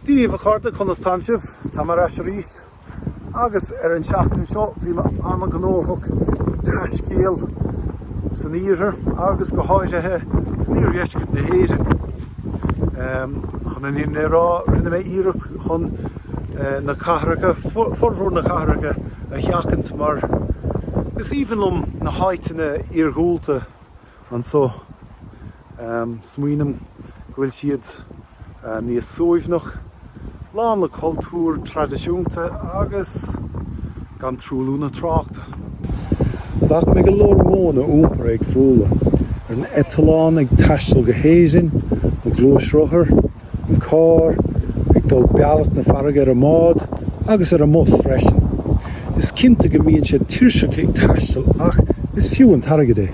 Daoibh a chairde, conas tánn sibh? Táim ar ais arís agus an tseachtain seo bhí mé ana gnóthach ag taiscéal san iarthar agus go háirithe san iardheisceart na hÉireann. Chun an fhírinne a rá rinne mé iarracht chun na cathracha, formhór na cathracha a sheachaint mar is aoibhinn liom na háiteanna iargúlta. iargúlta anseo. Smaoiním go bhfuil siad níos suaimhneach, lán le cultúr traidisiúnta agus gan truailliú na tráchta. Ghlac mé go leor modhanna iompair éagsúla, ar an eitleán, ag taisteal go hÉirinn, an gluaisrothar, an carr ag dul bealach na farraige ar an mbád agus ar an mbus freisin. Is cinnte go mbíonn sé tuirseach ag taisteal ach is fiú an t-airgead é.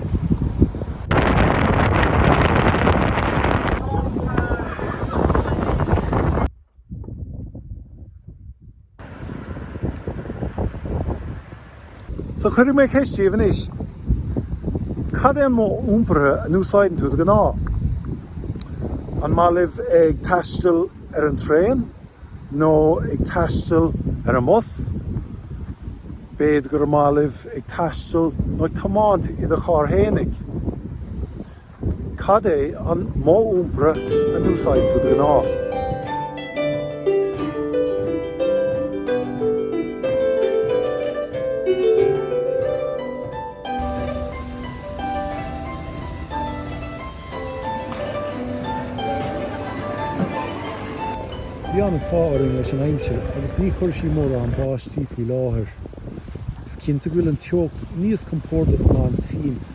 So cuirfidh mé ceist díbh anois, cad é an modh iompair a n-úsáideann tú de ghnáth? An maith libh ag taisteal ar an traein nó ag taisteal ar an mbus? B'fhéidir gur maith libh ag taisteal nó ag tiomáint i do charr fhéinig? Cad é an modh iompair a n-úsáideann tú de ghnáth? Bhí an t-ádh orainn leis an aimsir agus níor chuir sí mórán báistí faoi láthair. Is cinnte go bhfuil an teocht níos compordaí ná an tSín